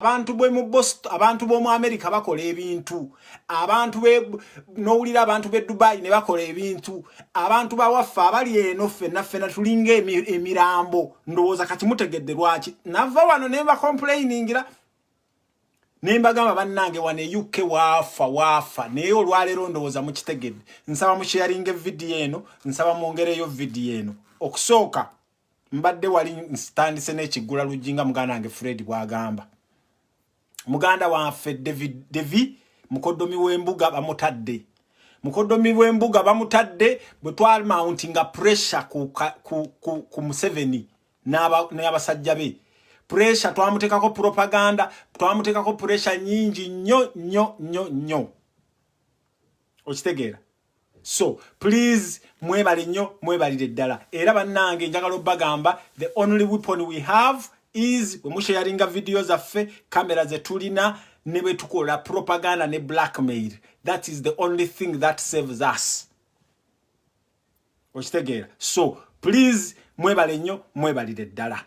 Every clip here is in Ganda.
abantu bwe mu Boston abantu bo mu America bakola ebintu abantu be nowulira abantu be Dubai ne bakola ebintu abantu ba waffa abali eno ffe na ffe na tulinga emirambo ndowoza kati mutegedde lwaki nava wano ne ba complainingira ne mbagamba bannange wano e UK waafa waafa naye olwaleero ndowooza mukitegedde nsaba musheyaringa evidiyo eno nsaba mwongereyo vidiyo eno okusooka mbadde wali nsitandise n'ekiggula luggi nga muganda wange fred bw'agamba muganda waffe david devi mukoddomi w'embuga bamutadde mukoddomi w'embuga bamutadde bwe twalmounti nga pressure ku, ku, ku, ku museveni n'abasajja be pressure twamuteekako propaganda twamuteekako pressure nyingi nnyo nnyo nnyo nnyo okitegeera so please mwebale nnyo mwebalire ddala era bannange njagala obbagamba the only weapon we have is wemusharinga vidiyo zaffe kamera zetulina ne bwe tukola propaganda ne blackmail that is the only thing that saves us okitegeera so please mwebale nnyo mwebalire ddala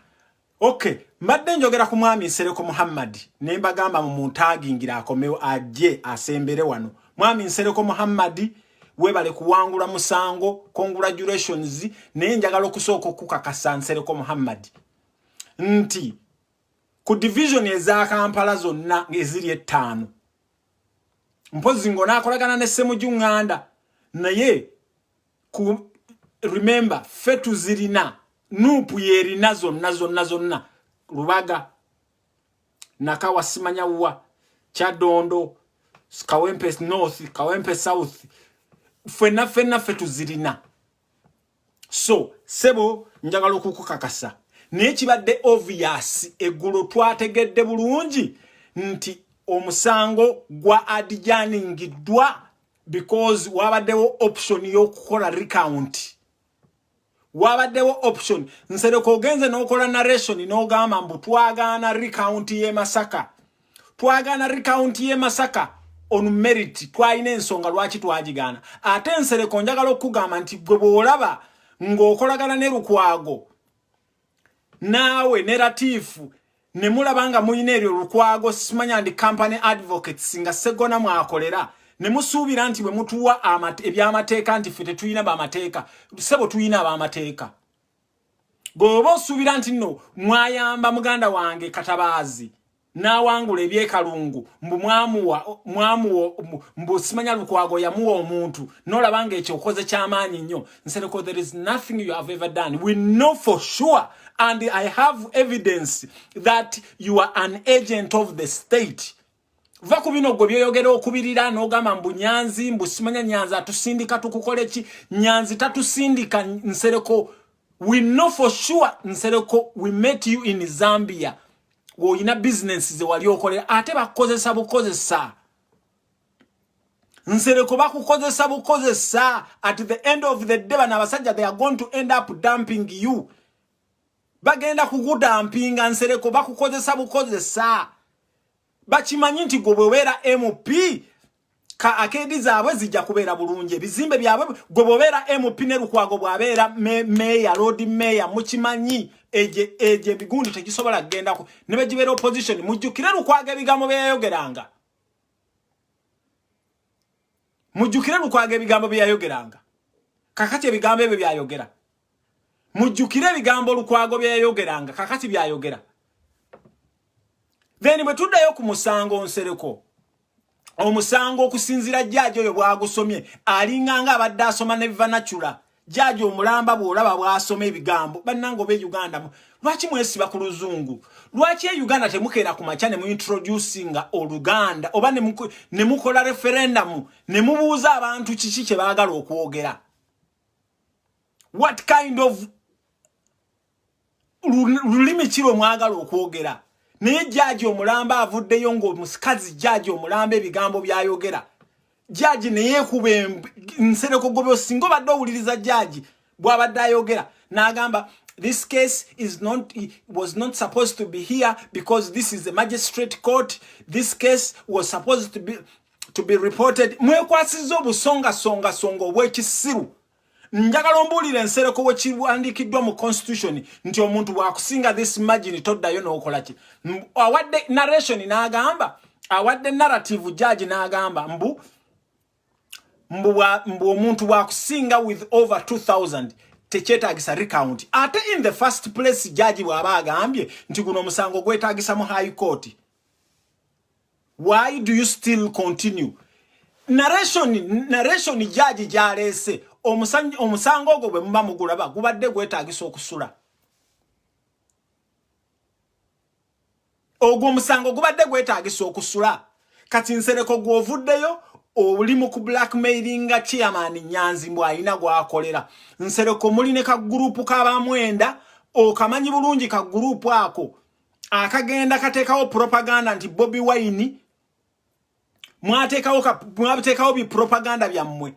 Okay, mbadde njogera ku mwami Nsereko Muhammad ne mbagamba mu muntaagingira akomewo ajje asembere wano. Mwami Nsereko Muhammad webale kuwangula musango congratulations naye njagala okusooka okukakasa Nsereko Muhammad nti ku division eza Kampala zonna eziri ettaano mpozi ngo nakolagana ne Semuju Nganda naye ku remember fe tuzirina nupu yerina zonna zonna zonna lubaga nakawa simanya wa kyadondo kawempe north kawempe south fena fena fe tuzirina so sebo njagala okukukakasa naye kibadde obvious eggulo twategedde bulungi nti omusango gwa adijaningiddwa because wabaddewo option y'okukola recount wabaddewo option nsereko ogenze n'okola narration n'ogamba mbu twagaana recount y'e masaka twagaana recount y'e masaka on merit twalina ensonga lwaki twagigaana ate nsereko njagala okukugamba nti gwe bw'olaba ng'okolagana ne lukwago naawe ne latiifu ne mulaba nga mulina eryo lukwago simanya ndi company advocates nga segona mwakolera ne musuubira nti bwe mutuwa ebyamateeka nti ffe tetulina bamateeka sebo tulina abamateeka bw'oba osuubira nti nno mwayamba muganda wange katabaazi n'awangula ebyekalungu mbu mwamuwa mwamuwa mbu simanya lukwago yamuwa omuntu n'olaba nga ekyo okoze ky'amaanyi nnyo nsereko there is nothing you have ever done we know for sure and i have evidence that you are an agent of the state va ku bino gwe byoyogera okubirira n'ogamba mbu nyanzi mbu simanya nyanzi atusindika tukukole ki nyanzi tatusindika nsereko we know for sure nsereko we met you in zambia olina bizinensi ze wali okolera ate bakukozesa bukozesa nsereko bakukozesa bukozesa at the end of the day bano abasajja they are going to end up dumping you bagenda kukudampinga nsereko bakukozesa bukozesa bakimanyi nti gwe bwebeera mp ka akeedi zaabwe zijja kubeera bulungi ebizimbe byabwe gwe bobeera mp ne lukwago bwabeera meeya loodi meeya mukimanyi egyo ebigundi tegisobola kugendako ne begibeera opposition mujjukire lukwago ebigambo byeyayogeranga mujjukire lukwago ebigambo byeyayogeranga kakati ebigambo ebyo byayogera mujjukire ebigambo lukwago byeyayogeranga kakati byayogera then bwe tuddayo ku musango nsereko omusango okusinzira jjaaji oyo bwagusomye alinganga abadde asoma ne vanacula jjaaji omulamba bwolaba bwasoma ebigambo bannanga oba euganda lwaki mwesiba ku luzungu lwaki euganda temukeera ku makya ne muintroducinga oluganda oba ne mukola referendamu ne mubuuza abantu kiki kye baagala okwogera what kind of lulimi kiro mwagala okwogera naye jaji omulamba avuddeyo ngaomusikazi jaji omulamba ebigambo byayogera jaji neyekuba nsereko gobe osinga obadde owuliriza jaji bwabadde ayogera nagamba this case is not was not supposed to be here because this is a magistrate court this case was supposed to be to be reported mwekwasiza obusonga songa songa obwekisiru njagala ombuulira ensereko wekiwandiikiddwa mu constitution nti omuntu wakusinga this margin toddayo nokolaki awadde narration n'agamba awadde narrative judge n'agamba mbu mbu omuntu wakusinga with over 2000 tekyetagisa recount ate in the first place judge bw'aba agambye nti guno omusango gwetagisa mu high court why do you still continue narration narration jaji jalese omusango ogwo bwe muba mugulaba gubadde gwetaagisa okusula ogwo omusango gubadde gwetaagisa okusula kati nsereko gwovuddeyo oli mu ku blackmailinga chairman nyanzi mbu alina gwakolera nsereko muli ne kagurupu kabamwenda okamanyi bulungi kagurupu ako akagenda katekawo propaganda nti Bobby Wine mwatekawo ka mwatekawo bi propaganda bya mwe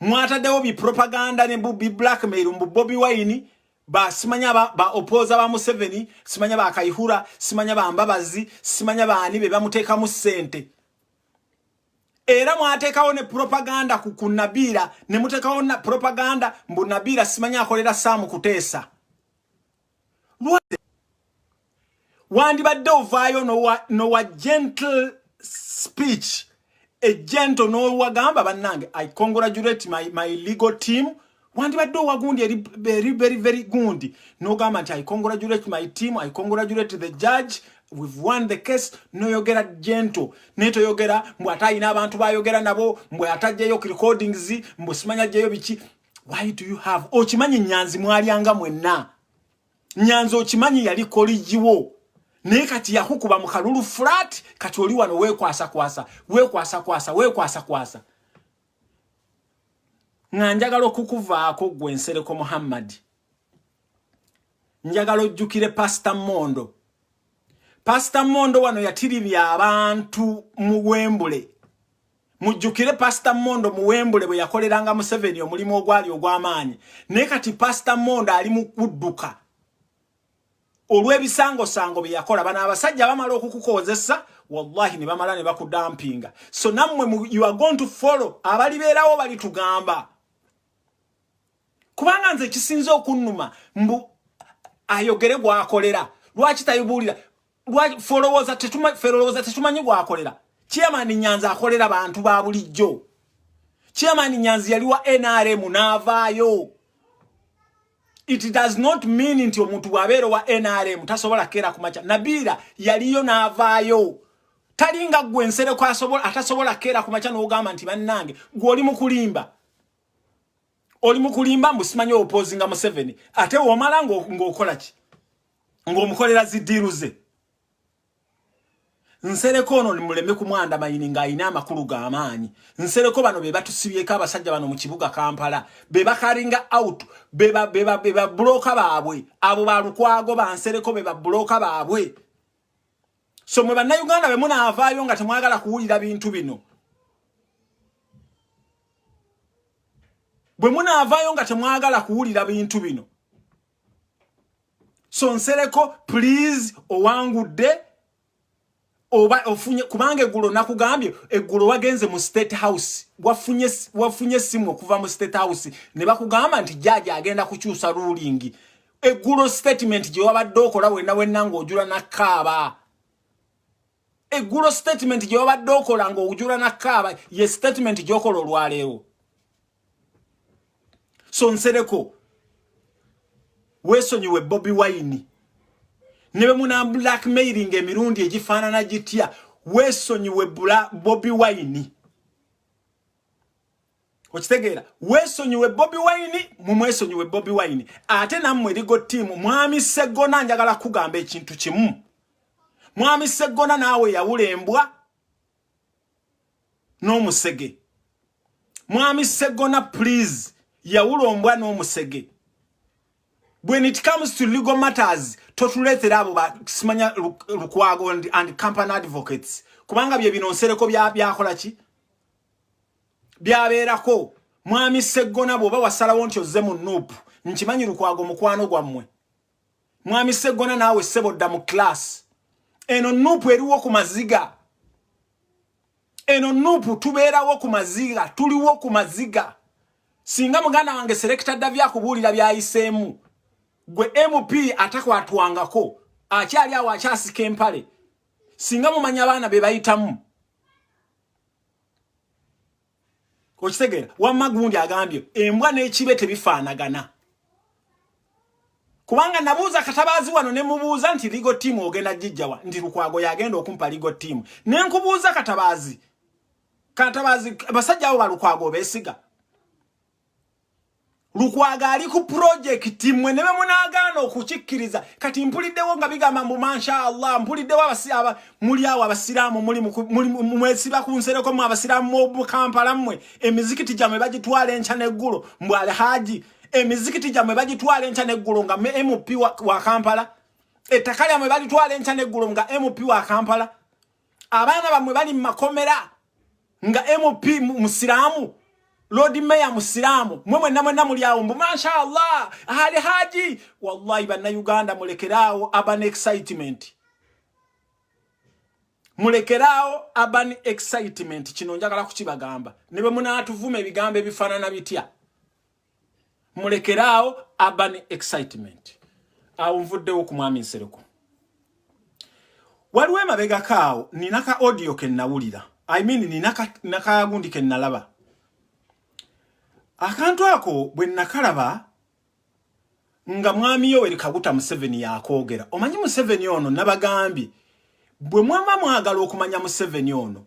mwatadewo bi propaganda ne Bobby Blackmail mbu Bobby Wine ba simanya ba, ba opoza ba Museveni simanya ba Kaihura simanya ba Mbabazi simanya ba ani be bamuteka mu sente era mwatekawo ne propaganda ku kunabira ne mutekawo na propaganda mbu nabira simanya akolera samu kutesa lwade wandibadde ovaayo nowa gentle speech ejento nowagamba bannange i congratulate my, my legal team wandibadde owagundi eri very very very gundi nogamba nti i congratulate my team i congratulate the judge we've won the case noyogera gentle naye toyogera mbu ate alina abantu bayogera nabo mbu atajjayo recordings mbu simanya jjayo biki why do you have okimanyi nyanzi mwalyanga mwenna nyanzi okimanyi yali koligiwo naye kati yakukuba mu kalulu flat kati oli wano wekwasakwasa wekwasakwasa wekwasakwasa nga njagala okukuvaako gwe nsereko muhammadi njagala ojjukire pasita mondo pasita mondo wano yatiribya abantu mu wembule mujjukire pasita mondo muwembule bwe yakoleranga museveni omulimu ogwali ogw'amaanyi naye kati pasita mondo ali mu kudduka olw'ebisangosango bye yakola bano abasajja bamala okukukozesa wallahi ne bamala ne bakudampinga so nammwe you are going to follow abalibeerawo balitugamba kubanga nze ekisinze okunnuma mbu ayogere gwakolera lwaki tayibuulira lwaki folowooza tetuma folowooza tetumanyi gwakolera chairman nyanzi akolera bantu ba bulijjo chairman nyanzi yali wa nrm n'avaayo it does not mean nti omuntu bw'abeera wa nrm tasobola keera ku makya nabiira yaliyo n'avaayo talinga gwe ensereko atasobola keera ku makya n'ogamba nti bannange gw'oli mu kulimba oli mukulimba mbu simanyi opozinga museveni ate womala ng'okola ki ng'omukolera zidiiru ze nsereko ono muleme kumwanda mayini ng'alina amakulu g'amaanyi nsereko bano be batusibyeko abasajja bano mu kibuga kampala be bakaringa out be babulooka baabwe abo balukwago bansereko be babulooka baabwe so mwe bannayuganda be munaavaayo nga temwagala kuwulira bintu bino bwe munaavaayo nga temwagala kuwulira bintu bino so nsereko please owangudde oba ofunye kubanga eggulo nakugambye eggulo wagenze mu state house wafunye wafunye simu okuva mu state house ne bakugamba nti jaaja agenda kukyusa ruling eggulo statement gye wabadde okola wenna wenna ng'ojula nakkaaba eggulo statement gye wabadde okola ng'ojula nakkaaba ye statement gy'okola olwaleero so nsereko weesonyiwe bobi wayini ne be muna blackmailing emirundi egifaanana gitya weesonyiwe bobi wayini okitegeera weesonyiwe bobi wayini mumwesonyiwe bobi wayini ate nammwe erigo tiimu mwami seggona njagala kugamba ekintu kimu mwami seggona naawe yawula embwa n'omusege mwami seggona please yawula ombwa n'omusege when it comes to legal matters totuleetera abo simanya lukwago and company advocates kubanga bye binonsereko byakola ki byabeerako mwami seggona bwoba wasalawo nti ozze mu nuupu nkimanyi lukwago mukwano gwammwe mwami seggona naawe ssebo dda mu kilaasi eno nuupu eriwo ku maziga eno nuupu tubeerawo ku maziga tuliwo ku maziga singa muganda wange serekita dda byakubuulira byayiseemu gwe mp atakwatwangako akyali awo akyasika empale singa mumanya abaana be bayitamu okitegeera wamma gundi agambye embwa n'ekibe tebifaanagana kubanga nabuuza katabaazi wano ne mubuuza nti ligo tiimu ogenda gijjawa nti lukwago yagenda okumpa ligo tiimu ne nkubuuza katabaazi katabaazi basajja abo balukwago beesiga lukwaga ali ku pulojekiti mwe ne bemunaagaana okukikkiriza kati mpuliddewo nga bigamba mbu mansha allah mpuliddewo abasiaba muli awo abasiraamu mwesiba ku nsereko mwe abasiraamu mu kampala mmwe emizikiti gyamwe bagitwala enkya n'eggulo mbu alhaji emizikiti gyamwe bagitwala enkya n'eggulo nga mp wa kampala ettaka lyamwe balitwala enkya n'eggulo nga mp wa kampala abaana bamwe bali mumakomera nga mp musiramu lord mayor musiramu mwe mwenna mwenna muli awo mbu mashallah ali haji wallahi bannayuganda mulekeraawo urban excitement mulekeraawo urban excitement kino njagala kukibagamba ne bwe munaatuvuma ebigambo ebifaanana bitya mulekeraawo urban excitement awo nvuddewo ku mwami nsereko waliwo emabegako awo nina ka audio ke nnawulira i mean nina nakagundi ke nnalaba akantu ako bwe nakalaba nga mwami yoweri kaguta museveni yakoogera omanyi museveni ono nabagambye bwe mwama mwagala okumanya museveni ono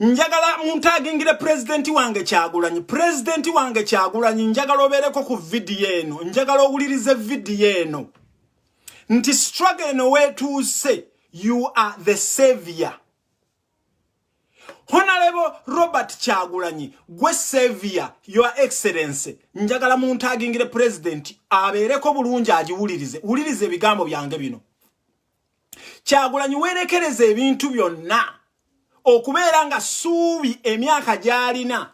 njagala muntu agingire pulezidenti wange kyagulanyi pulezidenti wange kyagulanyi njagala obeereko ku vidiyo eno njagala owulirize vidiyo eno nti struggle eno weetuuse you are the savior honalebo robert kyagulanyi gwe savior your excellency njagala muntu agingire pulezidenti abeereko bulungi agiwulirize wuliriza ebigambo byange bino kyagulanyi werekereza ebintu byonna okubeera nga suubi emyaka gyalina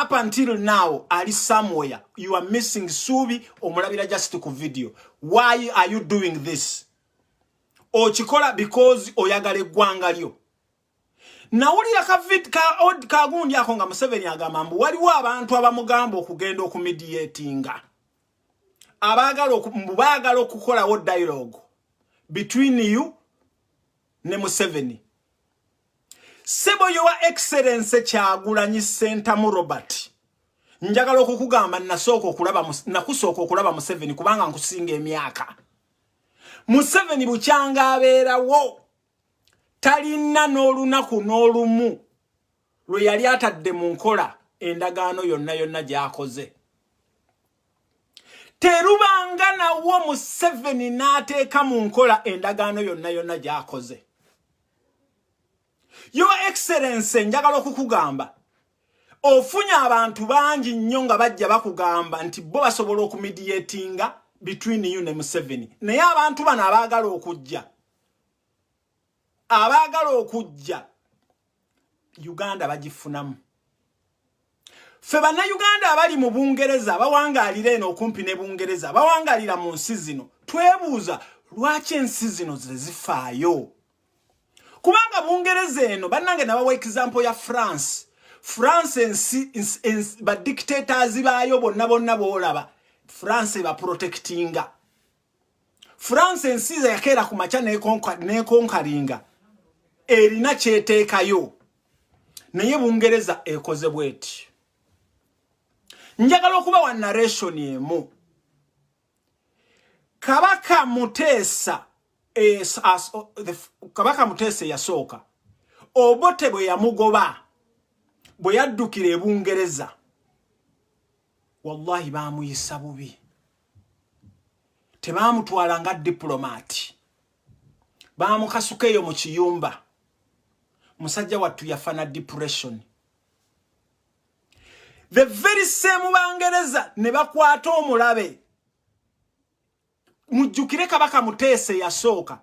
up until now ali somewhere you are missing suubi omulabira just ku video why are you doing this okikola because oyagala eggwanga lyo nawulira ka vid ka od ka gundi ako nga museveni agamba mbu waliwo abantu abamugamba okugenda okumidiatinga abaagala mbu baagala okukolawo dialogue between you ne museveni sebo yowa excellence kyagulanyi sentamu robert njagala okukugamba nasooka okulaba nakusooka okulaba museveni kubanga nkusinga emyaka museveni bukyanga abeerawo talinna n'olunaku n'olumu lwe yali atadde mu nkola endagaano yonna yonna gy'akoze terubanga nawo museveni n'ateeka mu nkola endagaano yonna yonna gy'akoze yo excellence njagala okukugamba ofunye abantu bangi nnyo nga bajja bakugamba nti bo basobola okumidiyetinga between you ne museveni naye abantu bano abaagala okujja abaagala okujja uganda bagifunamu ffe bannayuganda abali mu bungereza bawangaalira eno okumpi ne bungereza bawangaalira mu nsi zino twebuuza lwaki ensi zino ze zifaayo kubanga bungereza eno bannange nabawa example ya france france ensi badictators baayo bonna bonna boolaba france ebaprotectinga france ensiza yakeera ku makya nekonkalinga erina kyeteekayo naye bungereza ekoze bweti njagala okuba wa narration emu kabaka muteesa es, as, the, kabaka muteesa eyasooka obote bwe yamugoba bwe yaddukira ebungereza wallahi baamuyisa bubi tebaamutwala nga dipulomati baamukasuka eyo mu kiyumba musajja wattu yafa na depression the very same bangereza ne bakwata omulabe mujjukire kabaka muteese yasooka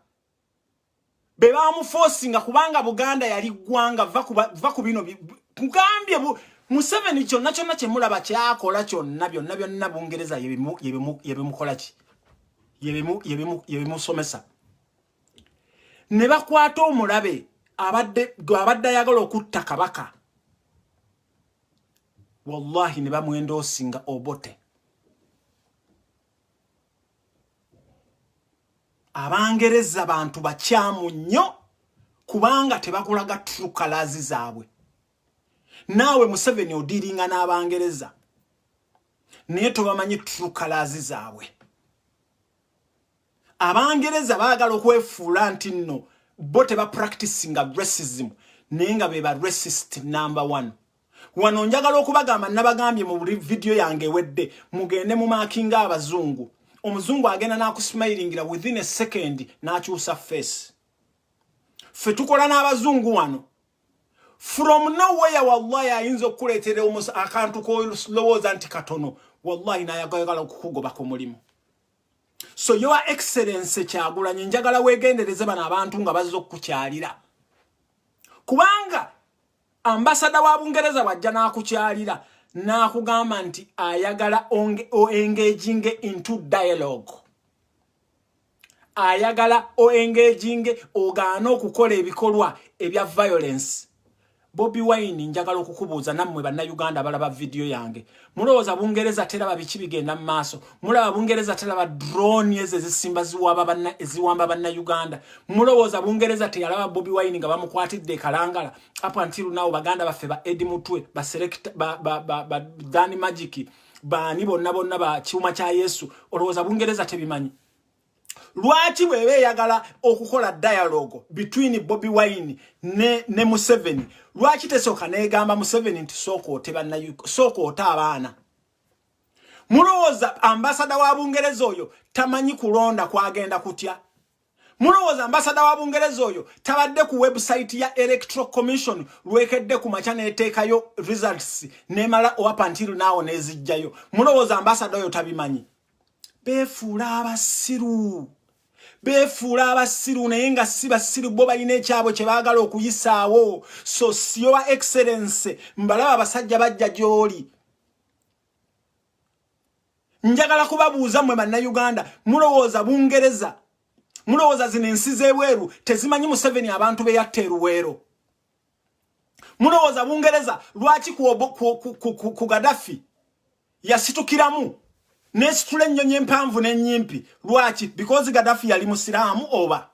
be baamufosinga kubanga buganda yali ggwanga va ku bino nkugambye museveni kyonna kyonna kyemulaba kyakola kyonna byonna byonna bungereza yebimukola ki yebimusomesa ne bakwata omulabe abadde abadde ayagala okutta kabaka wallahi ne bamwendoosinga obote abangereza bantu bakyamu nnyo kubanga tebakulaga trukalazi zaabwe naawe museveni odiiringa n'abangereza naye tobamanyi trukalazi zaabwe abangereza baagala okwefuula nti nno bo tebapracticinga racism naye nga be ba racist number one wano njagala okubagamba nabagambye mu buli vidiyo yange ewedde mugende mu maakinga abazungu omuzungu agenda n'akusimayiringira within a second n'akyusa face ffe tukola n'abazungu wano from nowhere wallahi ayinza okukuleetera akantu kolowooza nti katono wallahi nayagayagala okukugoba ku mulimu so your excellence kyagulanye njagala wegendereze bano abantu nga bazza okukukyalira kubanga Ambasada wa Bungereza wajja n'akukyalira n'akugamba nti ayagala oengaging into dialogue ayagala oengaging ogaana okukola ebikolwa ebya violence bobi wine njagala okukubuuza nammwe bannayuganda abalaba vidiyo yange mulowooza bungereza teraba biki bigenda mu maaso mulaba bungereza teraba drone ezo ezisimba eziwamba bannayuganda mulowooza bungereza teyalaba bobi wine nga bamukwatidde ekalangala up until now baganda baffe ba edi mutwe baselekta ba, ba, ba, ba, dani magiki baani bonna bonna ba kiuma kya yesu olowooza bungereza tebimanyi lwaki bweba eyagala okukola dialogue between bobi wine ne, ne museveni lwaki tesooka negamba museveni nti sooka ote sooka ote abaana mulowooza ambasada wa bungereza oyo tamanyi kulonda kwagenda kutya mulowooza ambasada wa bungereza oyo tabadde ku website ya electoral commission lwekedde ku makya neteekayo results nemala owapantiru naawo nezijjayo mulowooza ambasada oyo tabimanyi befuula abasiru befuula abasiru naye nga si basiru bo balina ekyabwe kye baagala okuyisaawo so siyowa excellence mbalaba abasajja bajja gy'oli njagala kubabuuza mwe bannayuganda mulowooza bungereza mulowooza zino ensi z'ebweru tezimanyi museveni abantu be yatta eruweero mulowooza bungereza lwaki ku gadafi yasitukiramu nesitula ennyonyi empanvu n'ennyimpi lwaki because gadafi yali musiraamu oba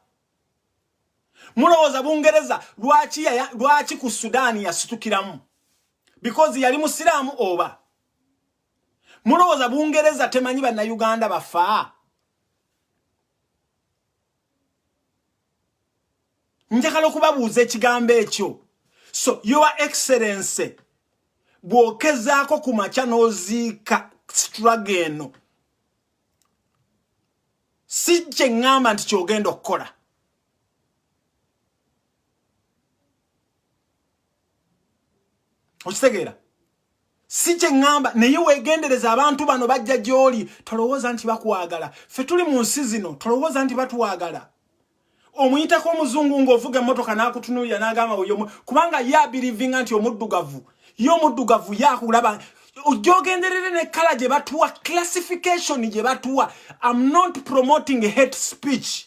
mulowooza bungereza lwaki, ya, lwaki ku sudaani yasitukiramu because yali musiraamu oba mulowooza bungereza temanyi bannayuganda bafaa njagala okubabuuza ekigambo ekyo so your excellency bw'okezaako ku makya n'oziika straga eno si kye ŋŋamba nti ky'ogenda okukola okitegeera si kye ŋŋamba naye weegendereza abantu bano bajja gy'oli tolowooza nti bakwagala ffe tuli mu nsi zino tolowooza nti batwagala omuyitako omuzungu ng'ovuga emmotoka n'akutunuulira n'agamba weyomu kubanga ye abirivinga nti omuddugavu ye omuddugavu ye akulaba ojogenderere ne kala gye batuwa classification gye batuwa am not promoting hate speech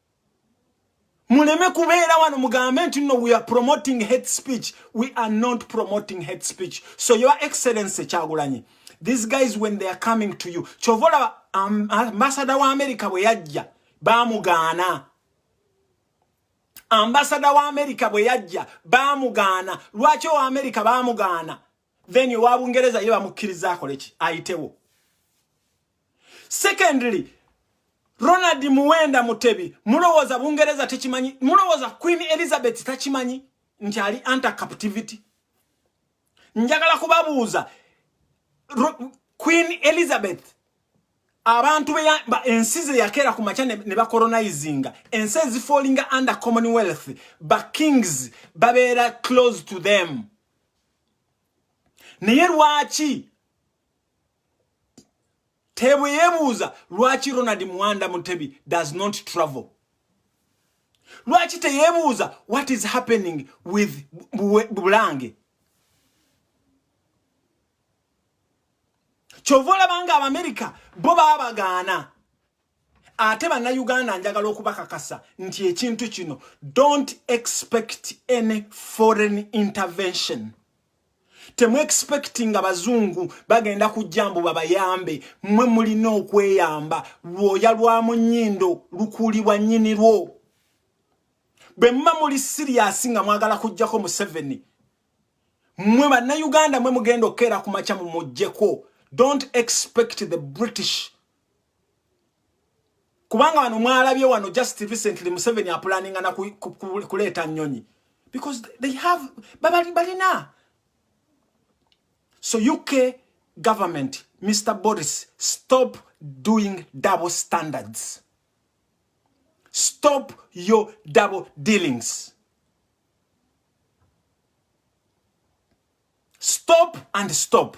muleme kubeera wano mugambe nti no we are promoting hate speech we are not promoting hate speech so your excellency kyagulanyi these guys when they are coming to you kyova olaba um, ambasada wa america bwe yajja bamugaana ambasada wa america bwe yajja bamugaana lwaki owa america bamugaana then owa bungereza ye bamukkiriza akole ki ayitewo secondly ronald muwenda mutebi mulowooza bungereza tekimanyi mulowooza queen elizabeth takimanyi nti ali anti captivity njagala kubabuuza queen elizabeth abantu ensi ze yakeera ku makya ne bacolonizinga ensi ezifallinga under commonwealth ba kings babeera close to them naye lwaki tebwe yebuuza lwaki ronald muwanda mutebi does not travel lwaki teyebuuza what is happening with bulange kyova olabanga abamerica bo babagaana ate bannayuganda njagala okubakakasa nti ekintu kino don't expect any foreign intervention temuexpectinga bazungu bagenda kujja mbu babayambe mwe mulina okweyamba lwoya lwa munyindo lukuulibwa nyini lwo bwe muba muli siriyasi nga mwagala kujjako museveni mwe bannayuganda mwe mugenda okukeera ku makya mumujjeko don't expect the british kubanga wano mwalabye wano just recently museveni apulaninga na kuleeta nyonyi because they have babali balina so uk government mr boris stop doing double standards stop your double dealings stop and stop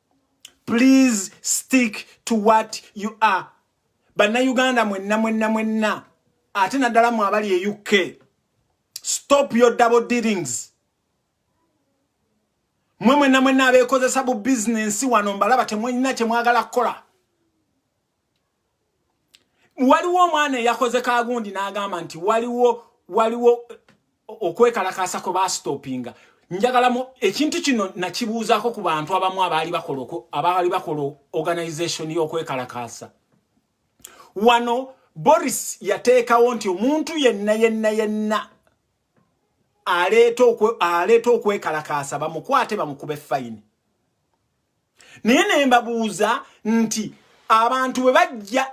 please stick to what you are bannayuganda mwenna mwenna mwenna ate naddala mu abali e uk stop your double dealings mwe mwenna mwenna abeekozesa bu bizinensi wano mbalaba temwalina kyemwagala kukola waliwo omwana eyakoze kagundi n'agamba nti waliwo waliwo okwekalakaasa kwe baasitoopinga njagala mu ekintu kino nakibuuzaako ku bantu abamu abaali bakola abaali bakola organization y'okwekalakaasa wano boris yateekawo nti omuntu yenna yenna yenna aleeta okwekalakaasa bamukwate bamukube fayini naye nembabuuza nti abantu bwe bajja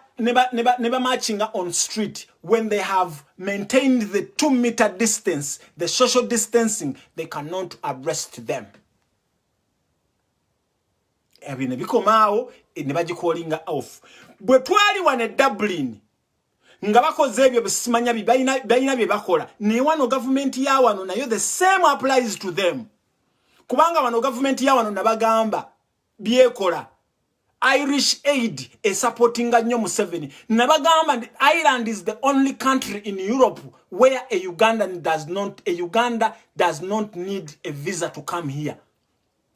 ne bamachinga on street when they have maintained the two meter distance the social distancing they cannot arrest them ebyo ne bikomaawo ne bagikolinga off bwe twali wane dublin nga bakoze ebyo besimanya balina bye bakola naye wano gavumenti ya wano nayo the same applies to them kubanga wano gavumenti ya wano nabagamba byekola irish aid esupportinga nnyo museveni nabagamba nti ireland is the only country in europe where a ugandan does not a uganda does not need a visa to come here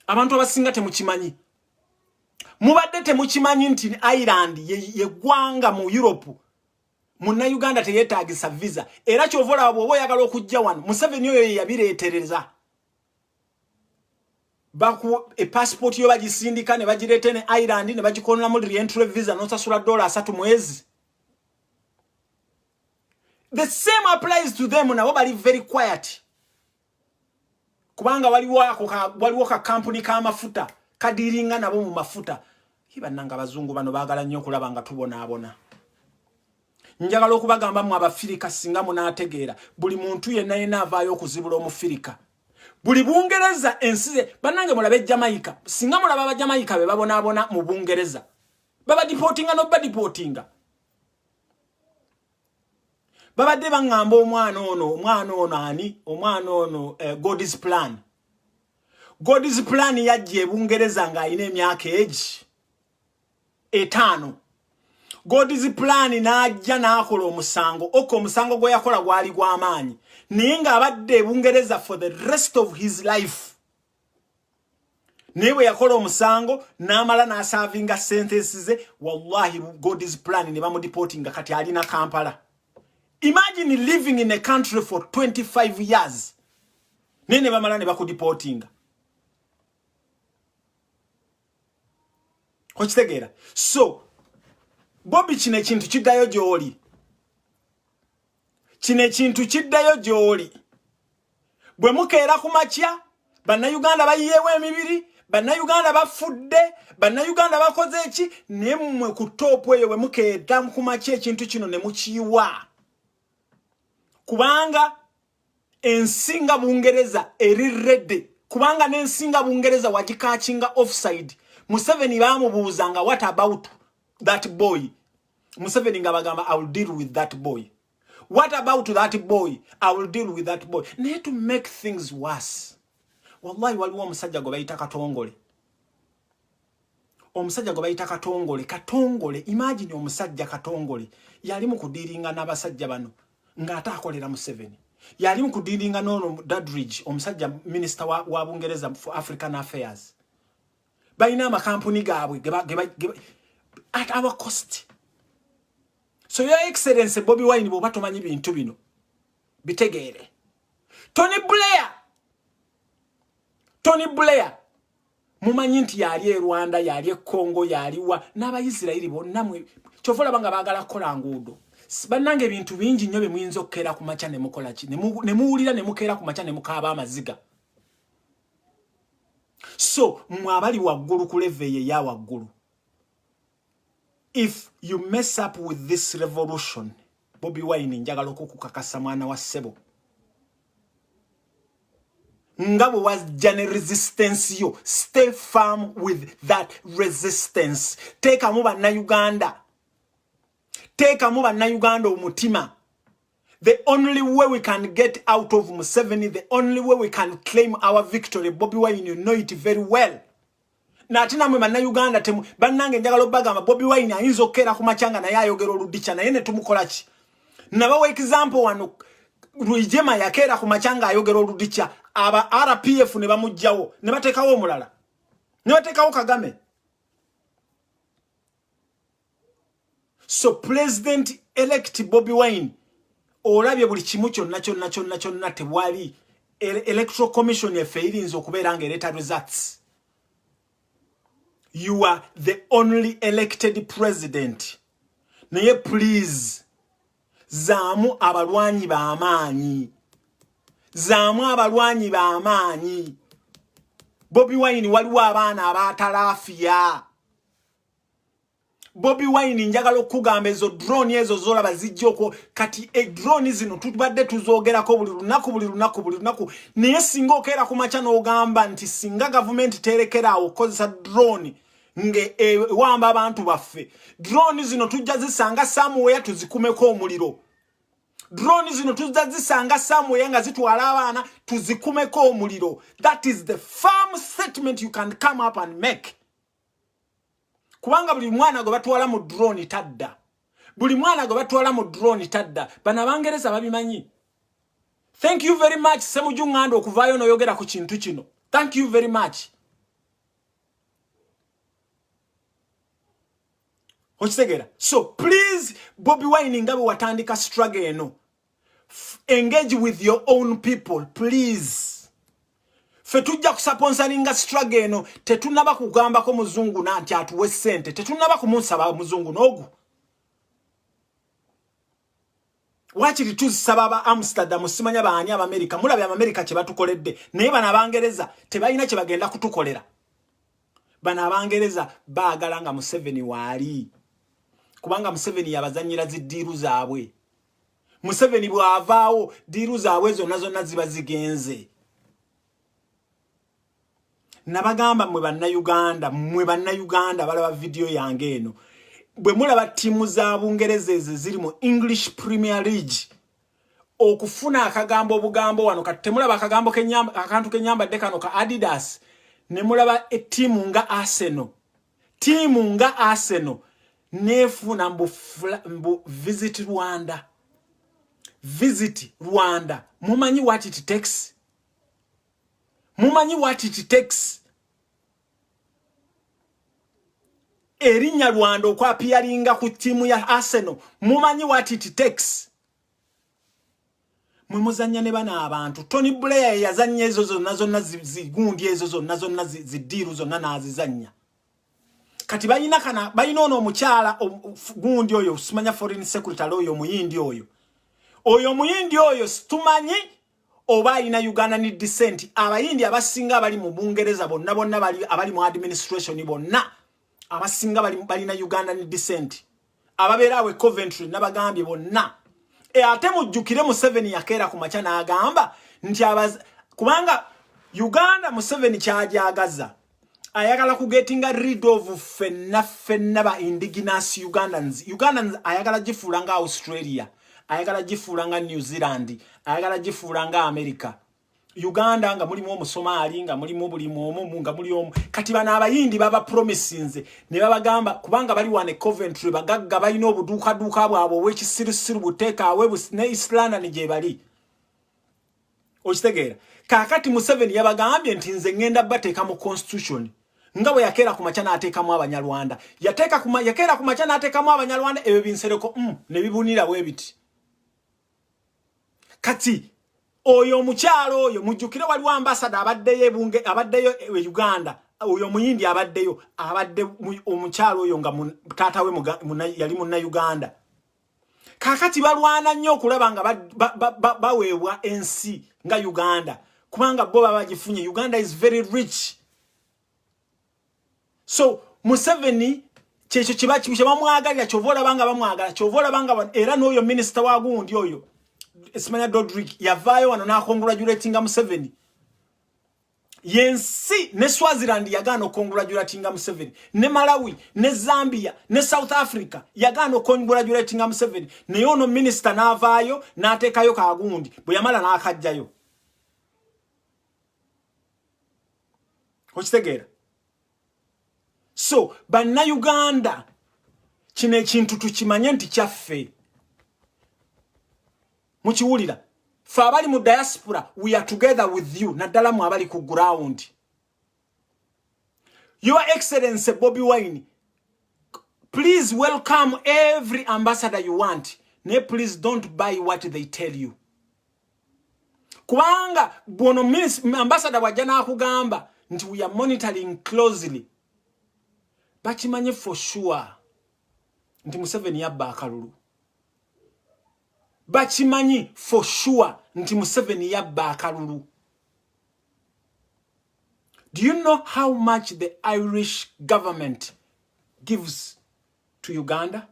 abantu abasinga temukimanyi mubadde temukimanyi nti ireland yegwanga mu europe muna uganda teyetagisa visa era kyova olaba bwoba oyagala okujja wano museveni oyo yeyabiretereza epassport yo bagisindika ne bagireeta ne ireland ne bagikonolamu rientry visa nosasula dola asatu mwezi the same applies to them nabo bali very quiet kubanga waliwo ako waliwo ka kampuni ka mafuta kadiringa nabo mu mafuta ibananga abazungu bano bagala nnyo okulaba nga tubonaabona njagala okubagamba mu abafirika singa munaategeera buli muntu yenna yenna avaayo okuzibula omufirika buli bungereza ensize banange mulabe ejamaika singa mulaba abajamaika be babonaabona mu bungereza babadipotinga nobadipotinga babadde baŋŋamba omwana ono omwana ono ani omwana ono eh, god's plan god's plan yajja ebungereza ng'alina emyaka egi etaano god's plan n'ajja n'akola omusango oka omusango gwe yakola gwali gw'amaanyi naye ng'abadde ebungereza for the rest of his life naye bwe yakola omusango n'amala n'asaavinga sentensi ze wallahi god's plan ne bamudipooti nga kati ali na kampala imagine living in a country for 25 years naye ne bamala ne bakudipootinga okitegeera so bobi kino ekintu kiddayo gy'oli kino ekintu kiddayo gy'oli bwe mukeera ku makya bannayuganda bayiyeewo emibiri bannayuganda bafudde bannayuganda bakoze eki naye mmwe ku toopu eyo bwe mukeera ku makya ekintu kino ne mukiyiwa kubanga ensinga bungereza eri redde kubanga n'ensinga bungereza wagikakinga offside museveni baamubuuza nga what about that boy museveni nga bagamba i will deal with that boy what about that boy i will deal with that boy naye to make things worse wallahi waliwo omusajja gwe bayita katongole omusajja gwe bayita katongole katongole imagine omusajja katongole yali mu kudiringa n'abasajja bano ng'ate akolera museveni yali mu kudiringa n'ono dadridge omusajja minisita wa, wa bungereza for african affairs balina amakampuni gaabwe at our cost so your excellence bobi wine bwoba tomanyi bintu bino bitegeere tony blair tony blair mumanyi nti yali e rwanda yali e congo yaliwa n'abaisirairi bonna kyova olaba nga baagala kukola nguudo bannanga ebintu bingi nnyo bye muyinza okukeera ku makya ne mukola ki ne muwulira ne mukeera ku makya ne mukaaba amaziga so mwe abali waggulu ku leve eyo eya waggulu if you mess up with this revolution bobi wine njagala okukukakasa mwana wa ssebo nga bwe wajja ne resistance yo stay firm with that resistance teekamu bannayuganda teekamu bannayuganda omutima The only way we can get out of Museveni, the only way we can claim our victory, Bobby Wine, you know it very well. Nati na mwema na Uganda temu, banange njaga lobaga ma Bobby Wine ya hizo kera kumachanga na yayo gero ludicha na yene tumukolachi. Na wawa example wano, ruijema ya kera kumachanga yayo gero ludicha, aba RPF neba mujao, neba teka wo mulala, neba teka wo kagame. so president elect bobi wine olabye buli kimu kyonna kyonna kyonna kyonna tewali electoral commission efe irinza okubeera nga ereeta results you are the only elected president naye please zaamu abalwanyi bamaanyi zaamu abalwanyi bamaanyi bobi wine waliwo abaana abatalaafiya bobi wine njagala okukugamba ezo drone ezo zolaba zijjoko kati e drone zino tubadde tuzogerako buli lunaku buli lunaku buli lunaku naye singa okeera ku makya n'ogamba nti singa gavumenti teerekeraawo okukozesa drone ngewamba e, abantu baffe drone zino tujja zisanga samuweya tuzikumeko omuliro drone zino tujja zisanga samuweya nga zitwala abaana tuzikumeko omuliro that is the firm statement you can come up and make kubanga buli mwana gwe batwala mu drone tadda buli mwana gwe batwala mu drone tadda bano abangereza babimanyi thank you very much semuju nganda okuvaayo noyogera ku kintu kino thank you very much okitegera so please bobi wine nga bwe watandika struggle eno engage with your own people please fe tujja kusaponsalinga struggle eno tetunaba kugambako muzungu nanti atuwe sente tetunaba kumunsaba muzungu nogu wakiri tuzisaba aba amsterdam simanya baani abamerika mulabye abamerika kyebatukoledde naye bano abangereza tebalina kyebagenda kutukolera bano abangereza baagala nga museveni waali kubanga museveni yabazanyira ziddiiru zaabwe museveni bw'avaawo diiru zaabwe zonna zonna ziba zigenze nabagamba mwe bannayuganda mwe bannayuganda balaba vidiyo yange eno bwe mulaba ttiimu za bungereza ezo ziri mu english premier league okufuna akagambo obugambo wano kati temulaba akagambo akantu kenyambadde kano ka adidas ne mulaba ettiimu nga arsenal tiimu nga arsenal nefuuna mbu, mbu visit rwanda visit rwanda mumanyi what it takes mumanyi what it takes erinnya rwanda okwapiyaringa ku tiimu ya arsenal mumanyi what it takes mwe muzannya ne bana abantu tony blair yazannya ezo zonna zonna zigundi ezo zonna zonna zidiiru zonna n'azizannya kati balina kana balina ono omukyala gundi oyo simanya foreign secretary oyo omuyindi oyo oyo omuyindi oyo situmanyi oba alina uganda ni descent abayindi abasinga abali mu bungereza bonna bonna abali mu administration bonna abasinga balina uganda ni descent ababeera awe coventry nabagambye bonna e, ate mujjukire museveni yakeera ku makya n'agamba nti kubanga uganda museveni kyagyagaza ayagala kugetinga rid of fenna fenna ba indigenous ugandans ugandans ayagala gifuula nga australia ayagala gifuula nga new zealand ayagala gifuula nga america uganda nga mulimu omusomaali nga mulimu buli mwomu nga muli omu kati bano abayindi baba promisinze ne babagamba kubanga bali wane coventry bagagga balina obuduukaduuka bwabwe obwekisirusiru buteekaawe ne islanda ni gyebali okitegeera kakati museveni yabagambye nti nze ngenda bateeka mu constitution nga bwe yakeera ku makya n'ateekamu abanyarwanda yakeera ku makya n'ateekamu abanyarwanda ebyo binsereko mm, ne bibunira bwe biti kati oyo omukyalo oyo mujjukire waliwo ambasada abaddeyo ebunge abaddeyo e uganda oyo omuyindi abaddeyo abadde omukyalo oyo nga taata we yali munna uganda kakati balwana nnyo okulaba nga baweebwa ensi nga uganda kubanga bo baba bagifunye uganda is very rich so museveni kyekyo kyebamwagalira kyova olaba nga bamwagala kyova olaba nga era n'oyo minisita wa gundi oyo simanya dodrik yavaayo wano nakongulajuletinga museveni yensi ne swaziland yagaana okongulajuletinga museveni ne malawi ne zambia ne south africa yagaana okongulajuletinga museveni naye ono minisita n'avaayo n'ateekayo kagundi bwe yamala n'akajjayo okitegeera so bannayuganda kino ekintu tukimanye nti kyaffe mukiwulira fe abali mu diaspora we are together with you naddala mu abali ku ground your excellency bobi wine please welcome every ambassador you want ne please don't buy what they tell you kubanga bwono ambasada bwajja nakugamba nti we are monitoring closely bakimanye for sure nti museveni yabba akalulu bakimanyi for sure nti museveni yabba akalulu do you know how much the irish government gives to uganda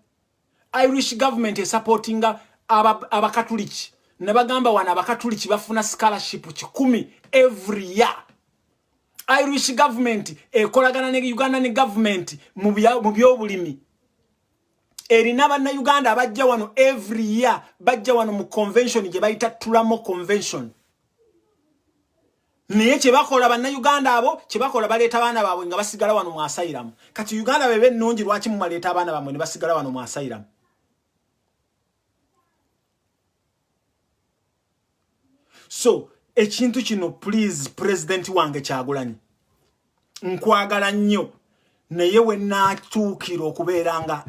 irish government esupportinga abakatuliki aba nebagamba wano abakatuliki bafuna scholarship kikumi every year irish government ekolagana ne uganda ne government mu byobulimi erina bannayuganda abajja wano every year bajja wano mu convention gye bayita tulamo convention naye kyebakola bannayuganda abo kyebakola baleeta abaana baabwe nga basigala wano mu asayiramu kati uganda bebe ennungi lwaki mumaleeta abaana baamwe ne basigala wano mu asayiramu so ekintu kino please pulezidenti wange kyagulanyi nkwagala nnyo naye we naatuukira okubeera nga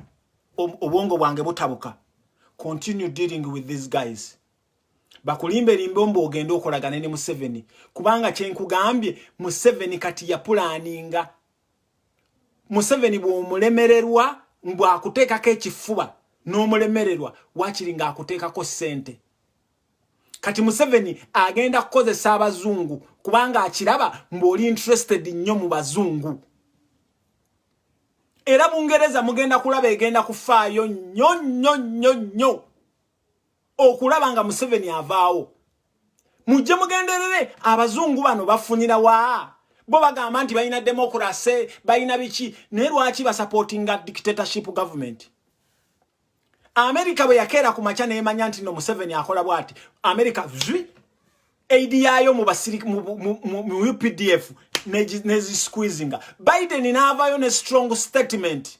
obwongo bwange butabuka continue dealing with these guys bakulimbe limbe ombu ogende okolagane ne museveni kubanga kyenkugambye museveni kati yapulaninga museveni bwomulemererwa mbu akuteekako ekifuba n'omulemererwa wakiri nga akuteekako ssente kati museveni agenda kukozesa abazungu kubanga akiraba mbu oli interested nnyo mu bazungu era bungereza mugenda kulaba egenda kufaayo nnyo nnyo nnyo nnyo okulaba nga museveni avaawo mujje mugenderere abazungu bano bafunira wa bo bagamba nti balina demokurase balina biki naye lwaki basapotinga dictatorship government amerika bwe yakeera ku makya neemanya nti no museveni akola bwati amerika zwi aidi yaayo mu updf nezisqueezinga biden n'avaayo ne strong statement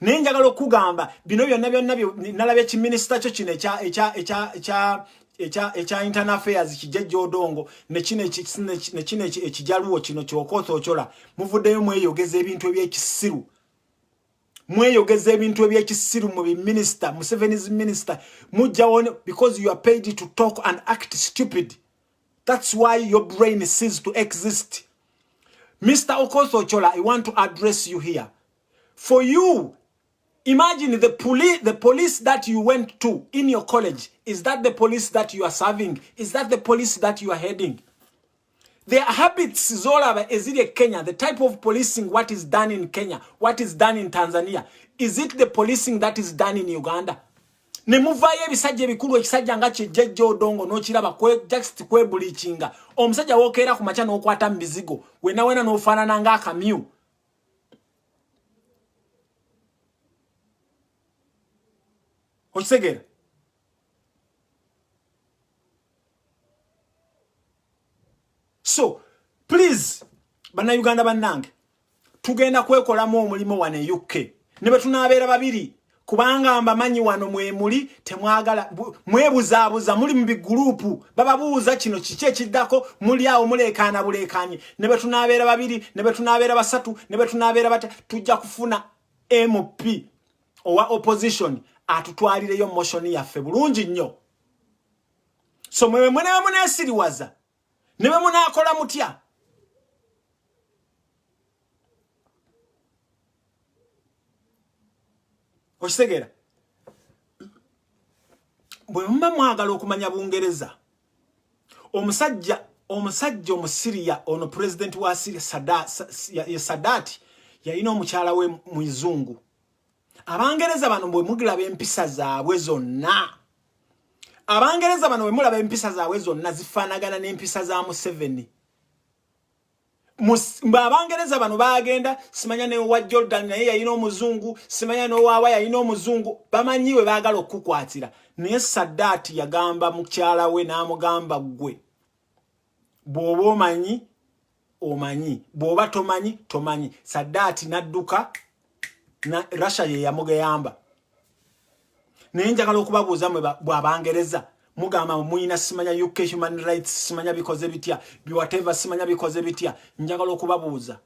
naye njagala okugamba bino byonna byonna nalaba ekiminisita kyo kino ekya internal affairs kijajja odongo nekino ekijaluwo kino kyokootha ocola muvuddeyo mweyogeza ebintu ebyekisiru mweyogeza ebintu ebyekisiru mu biminisita musevenis minister mujjawo because you are paid to talk and act stupid that's why your brain sees to exist mr okootha ocola i want to address you here for you imagine the police the police that you went to in your college is that the police that you are serving is that the police that you are heading their habits zolaba eziri e kenya the type of policing what is done in kenya what is done in tanzania is it the policing that is done in uganda ne muvayo ebisajja ebikulu ekisajja nga kyejjejja odongo n'okiraba just kwebulikinga omusajja wokeera ku makya n'okwata mu bizigo wenawena n'ofaanana ng'akamyu okitegeera so please bannayuganda bannange tugenda kwekolamu omulimu wano e uk ne bwe tunaabeera babiri kubanga mbamanyi wano mwemuli temwagala mwebuzaabuza muli mu bigulupu bababuuza kino kiki ekiddako muli awo muleekaana buleekaanye ne bwe tunaabeera babiri ne bwe tunaabeera basatu ne bwe tunaabeera bata tujja kufuna mp owa opposition atutwalireyo motion yaffe bulungi nnyo so mwemwe mwenewe muneesiriwaza ne bwe munaakola mutya okitegeera bwe muba mwagala okumanya bungereza omusajja omusajja omusiriya ono pulezidenti wa siriya ye sadaati yalina omukyala we muzungu abangereza bano bwe mugilaba empisa zaabwe zonna abangereza bano bwe mulaba empisa zaabwe zonna zifaanagana n'empisa za museveni abangereza bano bagenda simanya newa jordan naye yalina omuzungu simanya nowaawa yalina omuzungu bamanyi we baagala okukukwatira naye sadaati yagamba mukyala we n'amugamba ggwe bw'oba omanyi omanyi bwoba tomanyi tomanyi sadaati nadduka na russia ye yamugeyamba naye njagala okubabuuza mwe bwabangereza mugamba muyina simanya uk human rights simanya bikoze bitya biwateva simanya bikoze bitya njagala okubabuuza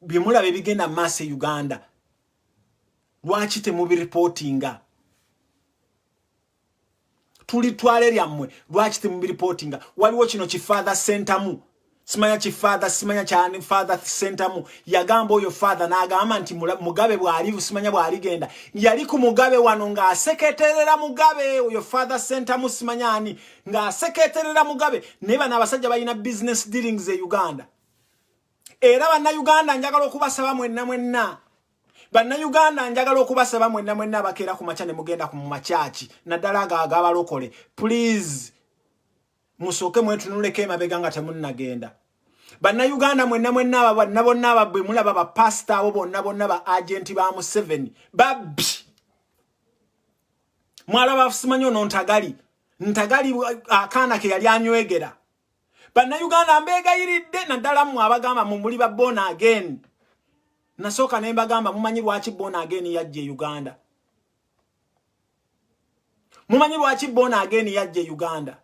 byemulaba ebigenda maaso e uganda lwaki temubiripotinga tuli twale lyammwe lwaki temubiripotinga waliwo kino kifather sentamu simanya kifather simanya kyani father sentamu yagamba oyo father n'agamba nti mugabe bwali simanya bwaligenda yali ku mugabe wano ng'aseketerera mugabe oyo father sentamu simanya ani ng'aseketerera mugabe naye bano abasajja balina business dealings e uganda era bannayuganda njagala okubasaba mwenna mwenna bannayuganda njagala okubasaba mwenna mwenna abakeera ku makya ne mugenda ku mumakyaki naddala ago agabalokole please musooke mwetunuleko emabega nga temunnagenda bannayuganda mwenna mwenna aba bonna bonna ababwe mulaba bapasita abo bonna bonna ba agenti ba museveni babbi mwalaba afusimanyi ono ntagali ntagali akaana ke yali anywegera bannayuganda mbeegayiridde naddala mmwe abagamba mu muli ba bona again nasooka ne mbagamba mumanyi lwaki bona again yajja e uganda mumanyi lwaki bona again yajja e uganda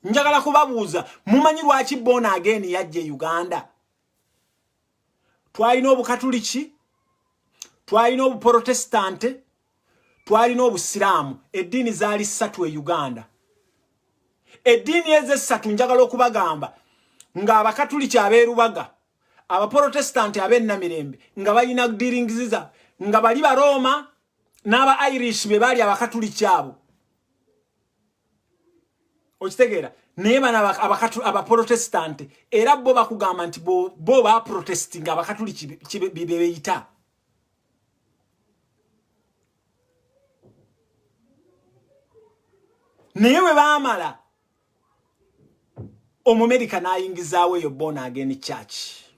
njagala kubabuuza mumanyi lwaki bona again yajja e uganda twalina obukatuliki twalina obuprotestante twalina obusiraamu eddiini zaali ssatu e uganda eddiini ezo essatu njagala okubagamba ng'abakatuliki ab'erubaga abaprotestanti ab'ennamirembe nga balina diringiziza nga bali barooma n'aba irish be baali abakatuliki abo okitegeera naye bana abaprotestanti era bo bakugamba nti bo baprotestinga abakatuliki bebeyita naye bwe baamala omumerika n'ayingizaawo eyo bona ageni kyaki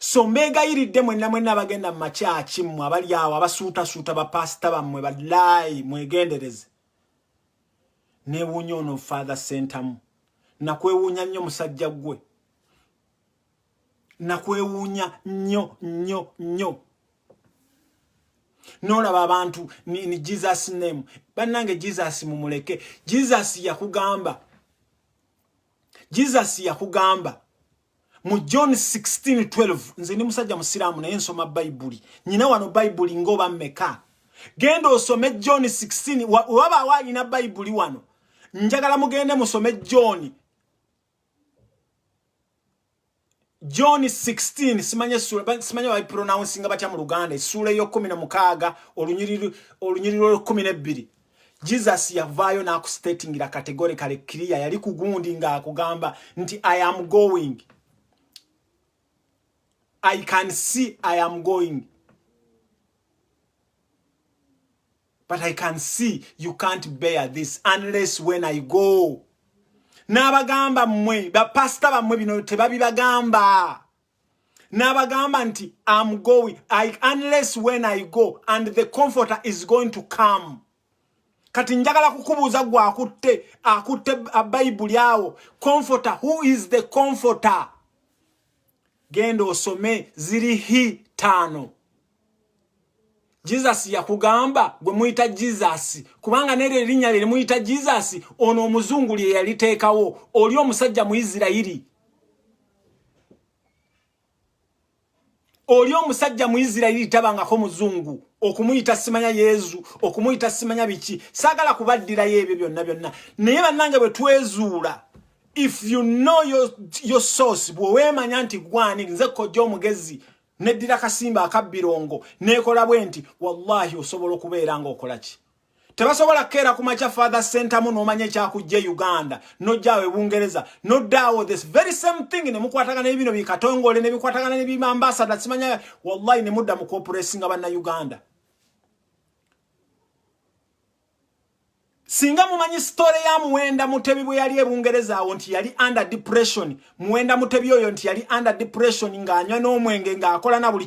so mbeegayiridde mwenna mwenna abagenda mu makyaki mmwe abali awo abasuutasuuta bapaasita bammwe balaayi mwegendereze newuunya ono father sentamu nakwewuunya nnyo musajja ggwe nakwewuunya nnyo nnyo nnyo nolaba abantu ni jesus name bannange jesus mumuleke jesus yakugamba jesus yakugamba mu john 1612 nze ndi musajja musiraamu naye nsoma bayibuli nyina wano bayibuli ngaoba mmeka genda osome john 16 wabaawo alina bayibuli wano njagala mugende musome john john 16 simanya essuula simanya bapronouncing batya mu luganda essuula ey'okkumi na mukaaga olunyiriri olw'ekkumi n'ebbiri jesus yavaayo n'akustatingira kategore kale kiriya yali ku gundi ng'akugamba nti i am going i can see i am going but i can see you can't bear this unless when i go n'abagamba mmwe bapasita bammwe bino tebabibagamba n'abagamba nti am going I, unless when i go and the comforter is going to come kati njagala kukubuuza gwe akutte akutte bayibuli awo comforter who is the comforter genda osome ziri hi taano Jesus yakugamba gwe muyita Jesus kubanga nero erinya lye muyita Jesus ono omuzungu lye yalitekawo oli omusajja mu Isirairi oli omusajja mu Isirairi tabanga ko muzungu okumuyita simanya Yesu okumuyita simanya biki sagala kubaddira yebyo byonna byonna naye banange bwe twezuula if you know your, your source bwe wemanya nti gwani nze kojja omugezi neddira kasimba akabbirongo neekola bwe nti wallahi osobola okubeera ng'okola ki tebasobola kukeera ku makya father sentamu n'omanya ekyakujja e uganda nojjaawo ebungereza noddaawo this very same thing ne mukwatagana ebino bikatongole ne bikwatagana ne bimambasada simanya wallahi ne mudda mu kuopuresinga banna uganda singa mumanyi story ya muwenda mutebi bwe yali ebungereza awo nti yali under depression muwenda mutebi oyo nti yali under depression ng'anywa n'omwenge ng'akola na buli